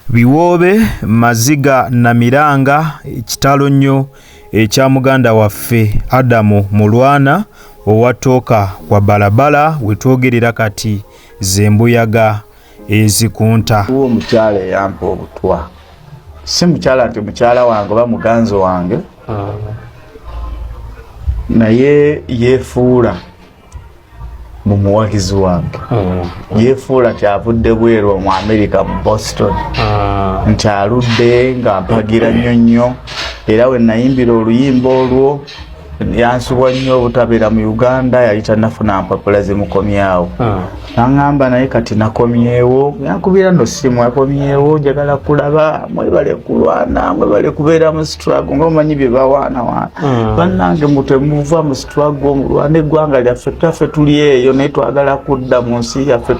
Biwoobe, Maziga, Namiranga, kitalo nnyo ekya muganda waffe Adamu Mulwana owa Tooka kwa Balabala we twogerera kati ze mbuyaga ezikunta. Waliwo omukyala eyampa obutwa, si mukyala nti mukyala wange oba muganzi wange, ah. naye yeefuula mumuwagizi wange mm. yefuula nti avudde bweru omu amerika mu boston ah. nti aludde nga mpagira nnyo nnyo era we nayimbira oluyimba olwo yansubwa nnyo obutabeera mu uganda yali tanafuna mpapula zimukomyawo ah. naŋamba naye kati nakomyewo yankubira no simu akomyewo njagala kulaba mwebale kulwana mwebale kubeera mu strago nga omanyi byebawaanawaana ah. bannange mutemuva mu twagongulwa n'eggwanga lyaffe taffe tuli eyo naye twagala kudda mu nsi yaffe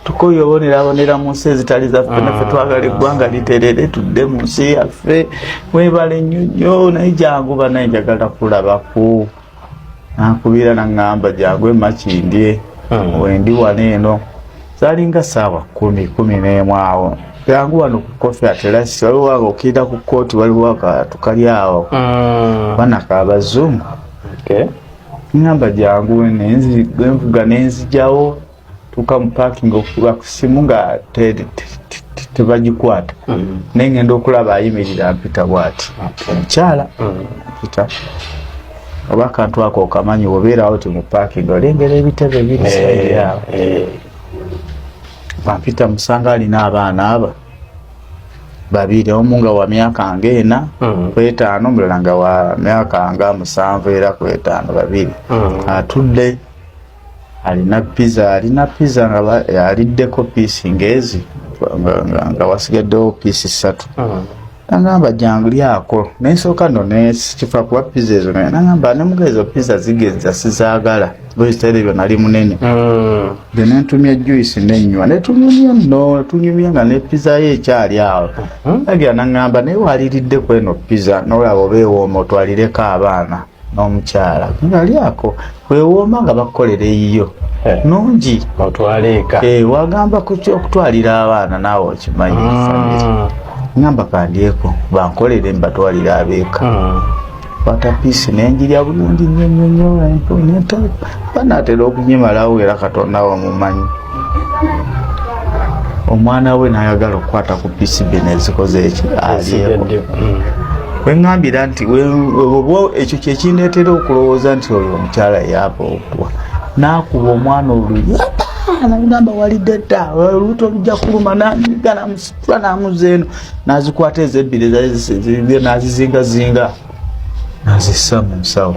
tukoye obonerabonera mu nsi ezitali zaffe naffe ah. twagala eggwanga literere tudde mu nsi yaffe webale nnyo nnyo naye jangu banaye njagala kulabako nankubira naŋŋamba jangu emakindye hmm. wendi wano eno zalinga saawa kumi kumi n'emu awo yangu wano ku kofi atelasi waliwo awo okirira ku kooti waliwo akantu kali awo mm. bana kabazungu ngamba jangu nenvuga nenzijawo tuka mu parking okuba ku simu nga tebagikwata mm. naye ngenda okulaba ayimirira mpita bwati omukyala mm. mpita oba akantu ako okamanyi wobeerawo ti mu pakingi olengera ebitebe birisairiawo eh, eh. bampita musanga alina abaana aba babiri omu nga wa myaka nga ena mm. kwetaano omulala nga wa myaka nga musanvu era kwetaano babiri mm. atudde alina piza alina piza nga aliddeko piisi ngaezi nga wasigaddewo piisi ssatu mm. nangamba jangu lyako nensooka no nekifa kuba pizza ezo naye nangamba nemuga ezo pizza zigeza sizagala bwekiseera ebyo nali munene mm. the nentumya juice nenywa netunyumya no tunyumya nga ne pizza ye ekyali awo mm-hmm. agira nangamba naye waliridde kweno pizza nolaba oba ewooma otwalireko abaana n'omukyala nali ako wewooma nga bakukolera eyiyo eh. nungi otwaleeka eh, wagamba okutwalira abaana naawe okimanyi ah. ngamba kandyeko bankolere mbatwalira abeeka ah. watapiisi nenjirya bulungi nyonyonyo banatera okunyimalawo era katonda wamumanyi omwana we nayagala okukwata ku pcb nezikoze eki alyeko hmm. wengambira nti oba ekyo kyekindeetera okulowooza nti oyo omukyala yaaba okuwa nakuba omwana oluya nagamba walidde dda olubuto lujja kuluma nanyiga namusitula namuza eno nazikwata ezo ebbiri nazizingazinga nazissa mu nsawo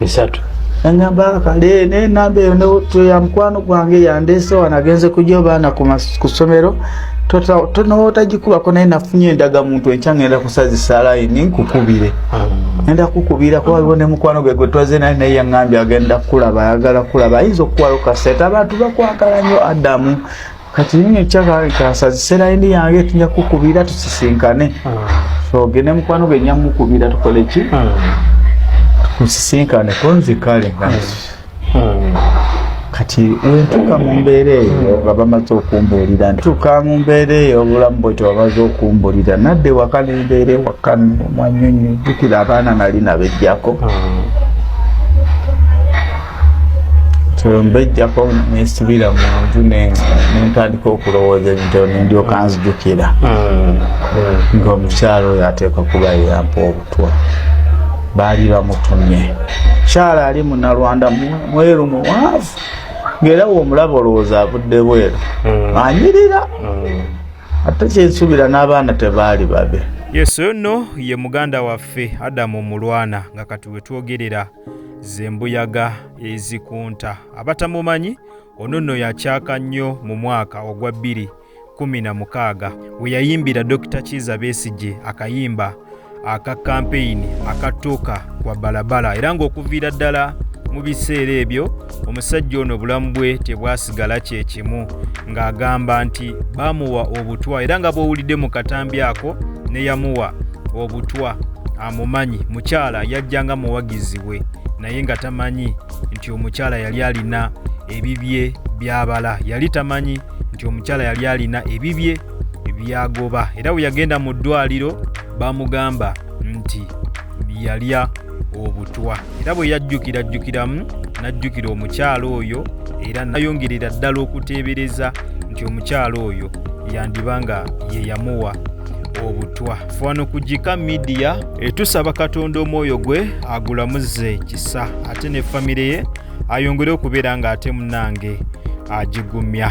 bisatu nangamba kale naye enamba eyo ya mukwano gwange yandeese wano agenze kugya obaana ku ssomero tonotagikubako naye nafunye endaga muntu enkya ngenda kusazisa layini nkukubire mm. enda kukubira kuba waliwo ne mukwano gwe gwetwaze naye naye yaŋambye agenda kukulaba ayagala kulaba ayinza okukuwalo kasente abantu bakwagala nyo adamu kati nini ekyakakasa zisera ini yange tuja kukubira tusisinkane togende ah. mukwano gwe nyamukubira tukole ki ah. tusisinkane konzi kale kati kati wentuka mu mbeera eyo nga bamaze okumbuulira ntuka mu mbeera eyo obulamu bwe tebamaze okumbuulira nadde waka nembeera ewaka mwanyonyi jukira abaana nali nabejjako ah. mbejjako nesibira mu nju nentandika okulowooza ebintu nendyoka nzijukira hmm. ngaomukyalo oyo ateeka kuba yeyampa obutwa baali bamutumye mukyala ali munalwanda mweru muwaavu ngaera womulaba olowooza avudde bweru hmm. anyirira hmm. ate kyensubira n'abaana tebaali babe yesu ono ye muganda waffe adamu omulwana nga kati wetwogerera zembuyaga ezikunta abatamumanyi ono nno yakyaka nnyo mu mwaka ogwa bbiri kumi na mukaaga we yayimbira Dokita Kiiza Besigye akayimba aka kampeyini akatuuka kwa balabala era ng'okuviira ddala mu biseera ebyo omusajja ono obulamu bwe tebwasigala kye kimu ng'agamba nti baamuwa obutwa era nga bw'owulidde mu katambi ako ne yamuwa obutwa amumanyi mukyala yajja nga muwagizi we naye nga tamanyi nti omukyala yali alina ebibye byabala yali tamanyi nti omukyala yali alina ebibye byagoba era bwe yagenda mu ddwaliro bamugamba nti yalya obutwa era bwe yajjukira jjukiramu n'ajjukira omukyala oyo era nayongerera ddala okuteebereza nti omukyala oyo yandiba nga ye yamuwa obutwa fano ku gika midiya etusaba katonda omwoyo gwe agulamuze kisa ate ne famire ye ayongere okubeera ng'ate munange agigumya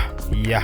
ya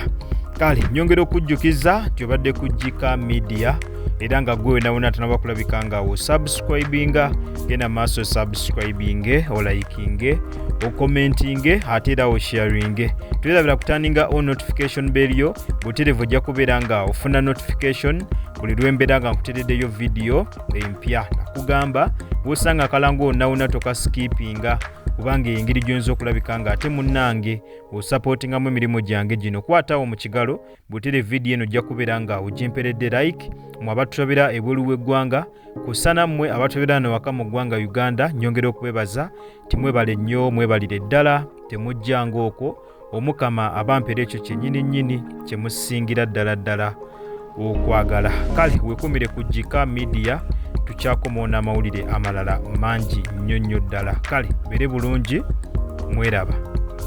kale nyongera okujjukiza nti obadde ku gika midiya era nga gwe wenawona atanaba kulabika nga osubscribinga genda maaso osubscribinge olayikinge okomentinge ate era osharinge tuerabira kutaninga o notification belyo buterevu ojja kubeera nga ofuna notification buli lwembeera nga nkutereddeyo vidiyo empya nakugamba bwosanga akalango onawona tokasikipinga kubanga engeri gyonza okulabika nga ate munnange osapootingamu emirimu gyange gino kwatawo mu kigalo Butere video eno ojja kubeera nga ojemperedde like mu abatulabira ebweru w'eggwanga kussa nammwe abatulabira wano waka mu ggwanga Uganda nyongera okubebaza timwebale nnyo mwebalire ddala temujja ng'okwo omukama abampera ekyo kyennyini nnyini kye musingira ddala ddala okwagala kale wekumire ku jika midiya tukyakomawo n'amawulire amalala mangi nnyo nnyo ddala kale bere bulungi mweraba